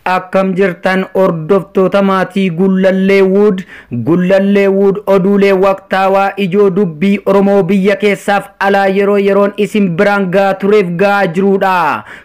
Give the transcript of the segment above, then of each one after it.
akkam jirtan hordoftoota maatii Gullallee Wood Gullallee Wood oduulee waqtaawaa ijoo dubbii Oromoo biyya keessaaf alaa yeroo yeroon isin biraan gahaa tureef gahaa jiruudha.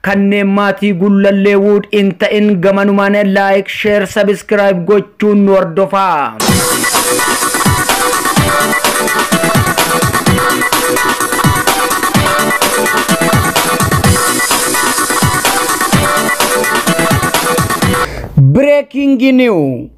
Kanneen maatii Gullallee Wood hin ta'in gamanumaan like, share, subscribe gochuun nu hordofaa. Breaking New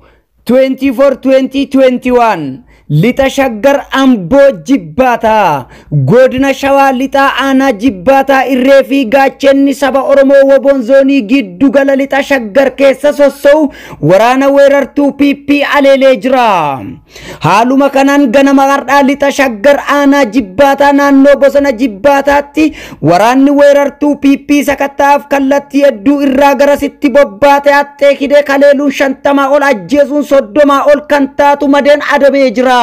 24/2021 Lixa Shaggar Amboo Jibbaataa Godina Shawaa Lixaa Aanaa Jibbaataa Irree fi Gaachenni Saba Oromoo Woboon Zoonii Giddu Gala Lixa Shaggar keessa sosso'u waraana weerartuu PP aleelee jira. Haaluma kanaan ganama har'aa Lixa Shaggar Aanaa Jibbaataa naannoo Bosona Jibbaataatti Waraanni weerartuu PP sakatta'aaf kallattii hedduu irraa garasitti bobbaate haxxee kidee kaleeluun shantamaa ol ajjeesuun soddomaa ol kan taatu madeen adabee jira.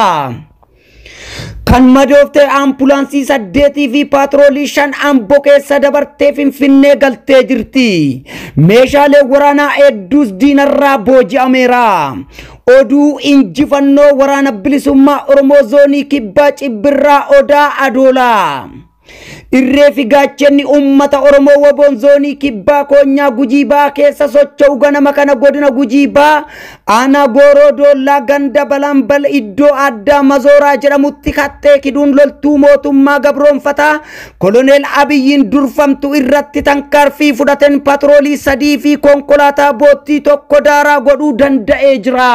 Kan madoofte ambulaansii saddeetii fi paatroolii shan ambo keessa dabartee finfinnee galtee jirti. Meeshaalee waraanaa hedduus diinarraa booji'ameera. Oduu injifannoo waraana bilisummaa Oromoo zoonii kibbaa cibbirraa odaa adoolaa. Irree fi gaachenni uummata Oromoo Waboon Zoonii Kibbaa Koonyaa Gujii Baa keessa socho'u ganama kana godina Gujii Baa aanaa Gooroo Doollaa ganda Balanbal iddoo addaa Mazooraa jedhamutti kattee kiduun loltuu mootummaa gabroonfataa koloneel Abiyyiin durfamtu irratti tankaarfii fudhateen patroolii sadii fi konkolaataa boottii tokko daaraa godhuu danda'ee jira.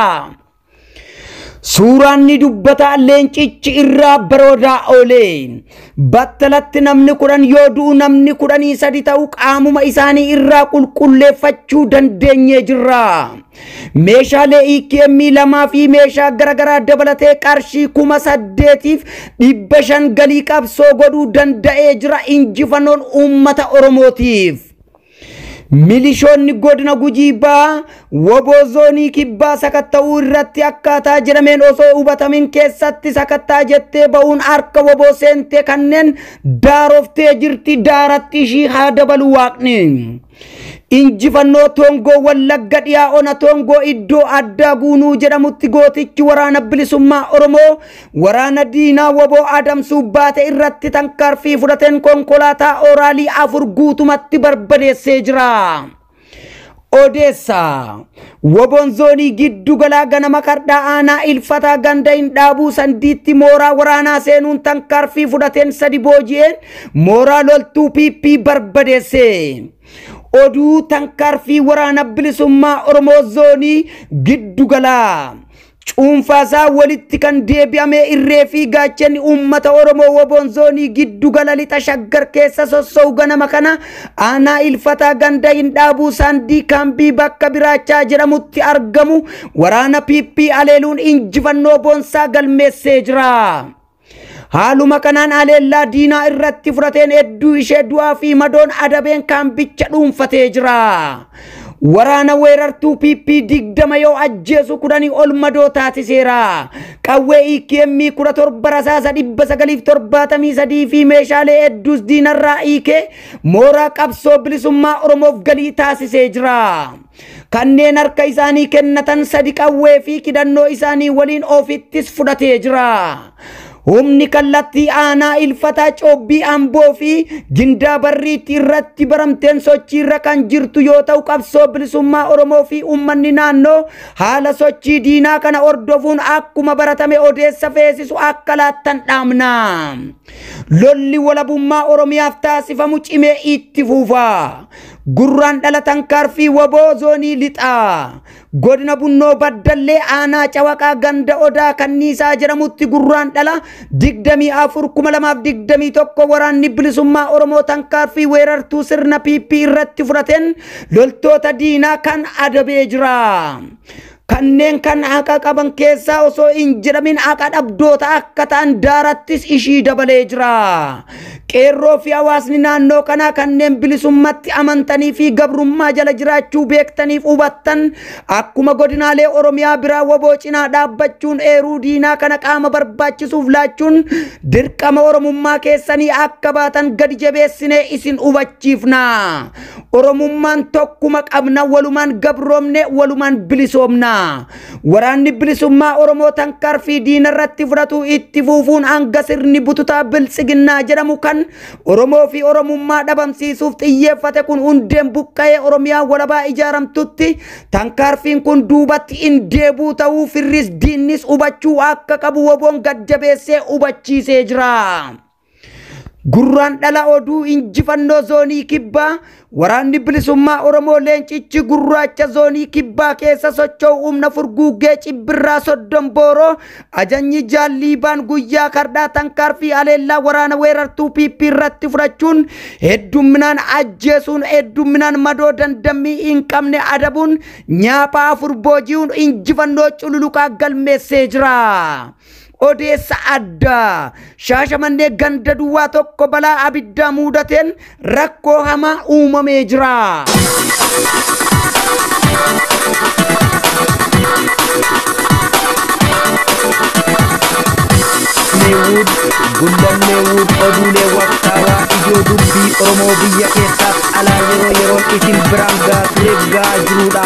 Suuraan ni dubbata leencichi irraa baroodaa oolee. Battalatti namni kudhan yoo du'u namni kudhanii sadi ta'u qaamuma isaanii irraa qulqulleeffachuu dandeenyee jirra. Meeshaalee EKM lamaa fi meeshaa garaagaraa dabalatee qarshii kuma saddeetiif dhibba shan galii qabsoo godhuu danda'ee jira injifannoon uummata Oromootiif. Milishoonni godina Gujii Bahaa woboo zoonii kibbaa sakatta'uu irratti akkaataa jedhameen osoo hubatamin keessatti sakattaa jettee ba'uun harka woboo seentee kanneen daaroftee jirti daaratti ishii haa dabalu waaqni. Injifannoo Toongoo Wallagga dhiyaa ona Toongoo iddoo addaa guunuu jedhamutti gootichi waraana bilisummaa Oromoo Waraana diinaa wbo adamsuuf baate irratti tankaarfii fudhateen konkolaataa ooraalii afur guutumatti barbadeessee jira. Odeessa. Woboon zoonii giddu galaa ganama kardhaa aanaa ilfataa ganda hin dhaabuu sandiitti mooraa waraanaa seenuun tankaarfii fudhateen sadi booji'een mooraa loltuu PP barbadeesse. Oduu tankaarfii waraana bilisummaa Oromoo zoonii giddu galaa. Cuunfaasaa walitti kan deebi'amee irree fi gaachanni uummata Oromoo woboon zoonii giddu gala lixa shaggar keessa sossa'u ganama kana aanaa ilfataa ganda hin dhaabuu saandii kaambii bakka biraachaa jedhamutti argamu waraana PP aleeluun injifannoo boonsaa galmeessee jira. Haaluma kanaan haleellaa diinaa irratti fudhateen hedduu ishee du'aa fi madoon adabeen kaambicha dhuunfatee jira. Waraana weerartuu PP 20 yoo ajjeesu kudhanii ol madoo taasiseera. Qawwee EKM 17 rasaasa 973 fi meeshaalee hedduus diinarraa hiikee mooraa qabsoo bilisummaa Oromoof galii taasisee jira. Kanneen harka isaanii kennatan sadi qawwee fi kidannoo isaanii waliin ofittis fudhatee jira. Humni kallattii aanaa ilfataa coobbii amboo fi gindaa barriitti irratti baramteen sochiirra kan jirtu yoo ta'u qabsoo bilisummaa Oromoo fi uummanni naannoo haala sochii diinaa kana hordofuun akkuma baratame odeessa feesisu akka laattan dhaamna. Lolli walabummaa Oromiyaaf taasifamu cimee itti fuufa. Gurraandhala Tankaarfii wbo Zoonii Lixaa Godina Bunnoo Baddallee Aanaa Cawaqaa Ganda Odaa Kanniisaa jedhamutti Gurraandhala 24,2021 Waraanni Bilisummaa Oromoo Tankaarfii weerartuu sirna PP irratti fudhateen loltoota diinaa kan adabee jira. Kanneen kan haqa qaban keessaa osoo hin jedhamin haqa dhabdoota akka ta'an daarattis ishii dabalee jira. Qeerroo fi hawaasni naannoo kanaa kanneen bilisummatti amantanii fi gabrummaa jala jiraachuu beektaniif hubattan akkuma godinaalee Oromiyaa biraa waboo cinaa dhaabbachuun eeruu diinaa kana qaama barbaachisuuf laachuun dirqama Oromummaa keessanii akka baatan gadi jabeessinee isin hubachiifna. Oromummaan tokkuma qabna walumaan gabroomne walumaan bilisoomna. Waraanni bilisummaa Oromoo tankaarfii diina irratti fudhatu itti fuufuun hanga sirni bututaa biltsiginnaa jedhamu kan Oromoo fi Oromummaa dhabamsiisuuf xiyyeeffate kun hundeen buqqa'ee Oromiyaa walabaa ijaaramtutti tankaarfiin kun duubatti hin deebuu ta'uu firris diinnis hubachuu akka qabu woboon gadjabeessee hubachiisee jira. Gurraandhala Oduu Injifannoo Zoonii Kibbaa Waraanni Bilisummaa Oromoo Leencichi Gurraacha Zoonii Kibbaa keessa socho'u humna furguggee Cibbirraa Soddom Booroo ajanyi Jaal Liibaan guyyaa kardhaa tankaarfii haleellaa waraana weerartuu PP irratti fudhachuun heddumminaan ajjeesuun heddumminaan madoo dandammii hin qabne adabuun nyaaphaa afur booji'uun injifannoo cululuqaa galmeessee jira. Odeessa addaa shaashamannee ganda duwwaa tokko balaa abiddaa muudateen rakkoo hamaa uumamee jira. Neewud, Gullan Neewud oduulee waqtaawaa ijoo dubbii Oromoo biyya keessaaf alaa yeroo yeroon isin biraan gaa tureef gaa jirudha.